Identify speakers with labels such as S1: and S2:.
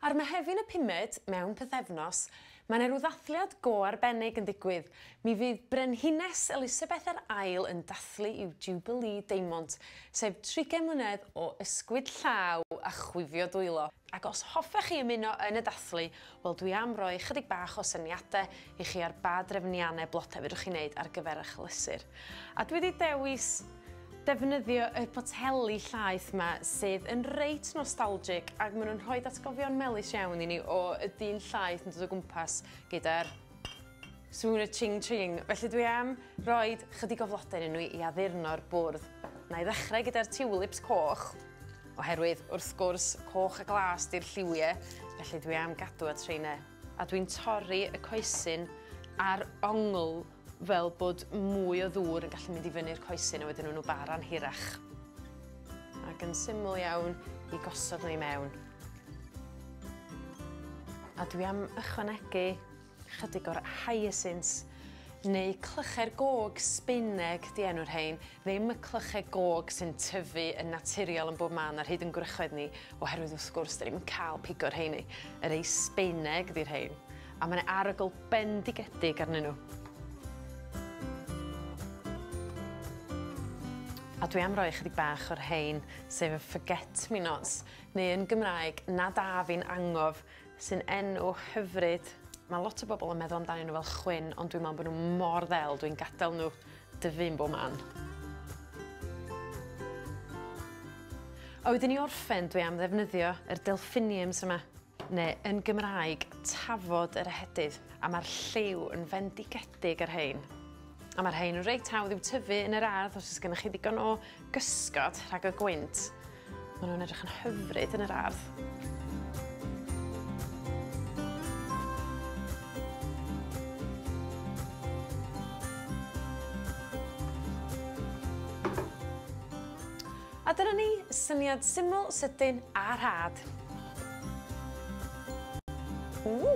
S1: Ar Mehefin y pumed, mewn pythefnos, mae yna rhyw ddathliad go arbennig yn digwydd. Mi fydd Brenhines Elisabeth yr Ail yn dathlu i'w Jubilee Deimont, sef trigen mlynedd o ysgwyd llaw a chwifio dwylo. Ac os hoffech chi ymuno yn y dathlu, Wel dwi am roi chydig bach o syniade i chi ar ba drefnianne blode fedrwch chi neud ar gyfer ych lysur. A dwi 'di dewis defnyddio y poteli llaeth 'ma sydd yn reit nostalgic ag ma' nw'n rhoid atgofion melys iawn i ni o y dyn llaeth yn dod o gwmpas gyda'r sŵn y ching ching. Felly dwi am roid chydig o flode yn nw i addurno'r bwrdd. Na'i ddechrau gyda'r tulips coch. Oherwydd, wrth gwrs, coch a glas 'di'r lliwie, felly dwi am gadw at rheine. A dwi'n torri y coesyn a'r ongl fel bod mwy o ddŵr yn gallu mynd i fyny'r coesyn a wedyn nhw'n bara'n hirach. Ac yn syml iawn i gosod nhw i mewn. A dwi am ychwanegu Chydig o'r hyacinths neu clychau'r gog Sbaeneg 'di enw'r rhein, ddim y clychau gog sy'n tyfu yn naturiol yn bob man ar hyd yn gwrychoedd ni, oherwydd wrth gwrs 'dyn ni'm yn cael pigo'r rheiny. Y rei Sbaeneg 'di'r rhein, a mae 'na arogl bendigedig arnyn nhw. A dwi am roi ychydig bach o'r rhein, sef y forget-me-nots, neu yn Gymraeg, na da fi'n angof. Sy'n enw hyfryd. Mae lot o bobl yn meddwl amdanyn nhw fel chwyn, ond dwi'n meddwl bod nhw mor ddel, dwi'n gadael nhw dyfu'n bob man. A wedyn i orffen, dwi am ddefnyddio yr delphiniums yma, neu yn Gymraeg, tafod yr ehedydd, a mae'r lliw yn fendigedig ar hein. A mae'r hein yn reit hawdd i'w tyfu yn yr ardd os oes gennych chi ddigon o gysgod rhag y gwynt. Maen nhw'n edrych yn hyfryd yn yr ardd. A dyna ni, syniad syml, sydyn a rhad. Ww!